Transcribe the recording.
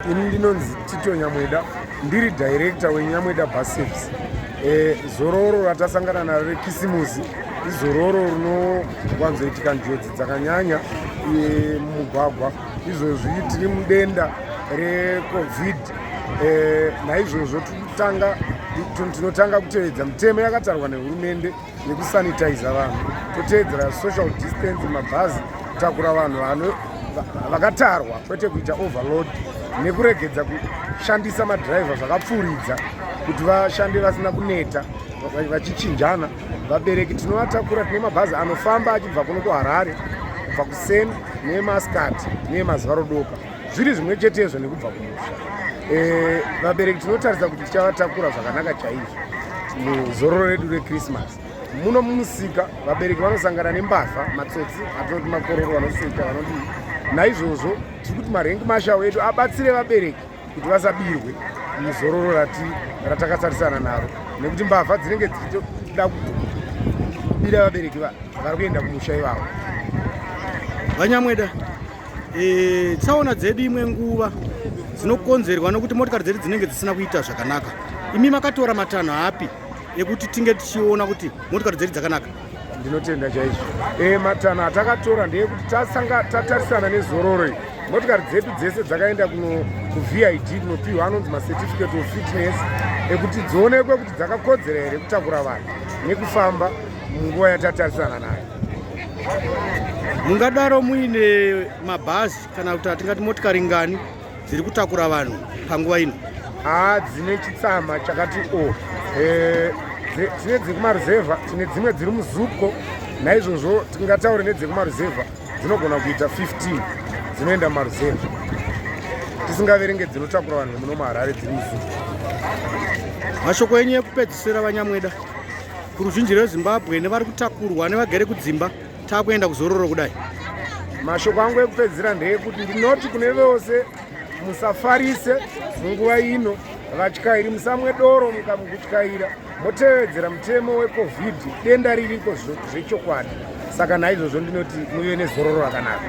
Ini ndinonzi Tito Nyamweda ndiri director weNyamweda Bus Service. Eh, zororo ratasangana naro rekisimusi izororo rinowanzoitika njodzi dzakanyanya eh, mumugwagwa izvozvi tiri mudenda recovid eh, naizvozvo tinotanga kutevedza mitemo yakatarwa nehurumende nekusanitiza vanhu toteedzera social distance mabhazi kutakura vanhu vanhu vakatarwa kwete kuita overload nekuregedza kushandisa madhiraivha zvakapfuuridza kuti vashande vasina kuneta vachichinjana vabereki tinovatakura tine mabhazi anofamba achibva kuno kuharare kubva kuseni nemaskati nemazuva rodoka zviri zvimwe chetezvo nekubva kumusha eh, vabereki tinotaridza kuti tichavatakura zvakanaka chaizvo muzororo redu rekrismas muno mumusika vabereki vanosangana nembavha matsotsi atinoti makororo vanoseka vanodii naizvozvo tiri kuti marengi mashawo edu abatsire vabereki kuti vasabirwe muzororo rati ratakatarisana naro nekuti mbavha dzinenge dzichitoda kubira vabereki vari kuenda kumusha ivavo vanyamweda e, tsaona dzedu imwe nguva dzinokonzerwa nokuti motikari dzedu dzinenge dzisina kuita zvakanaka imi makatora matanho api ekuti tinge tichiona kuti motikari dzedu dzakanaka ndinotenda chaizvo e, matanho atakatora ndeyekuti tasanga tatarisana nezororo iyi motikari dzedu dzese dzakaenda kuvid kunopiwa anonzi macertificate of fitness ekuti dzionekwe kuti dzakakodzera here kutakura vanhu nekufamba munguva yatatarisana nayo mungadaro muine mabhazi kana kuti atingati motikari ngani dziri kutakura vanhu panguva ino haa dzine chitsama chakati o eh, dzine dzekumaruzevha tine dzimwe dziri muzuko naizvozvo tingataure nedzekumaruzevha dzinogona kuita 15 dzinoenda maruzevha tisingaverenge dzinotakura vanhu vemuno maharare dziri muzuko mashoko enyu ekupedzisira vanyamweda kuruzhinji rwezimbabwe nevari kutakurwa nevagere kudzimba takuenda kuzororo kudai mashoko angu ekupedzisira ndeyekuti ndinoti kune vose musafarise munguva ino vatyairi musamwe doro mukamukutyaira motevedzera mutemo wecovid denda ririko zvechokwadi saka naizvozvo ndinoti muve nezororo rakanaka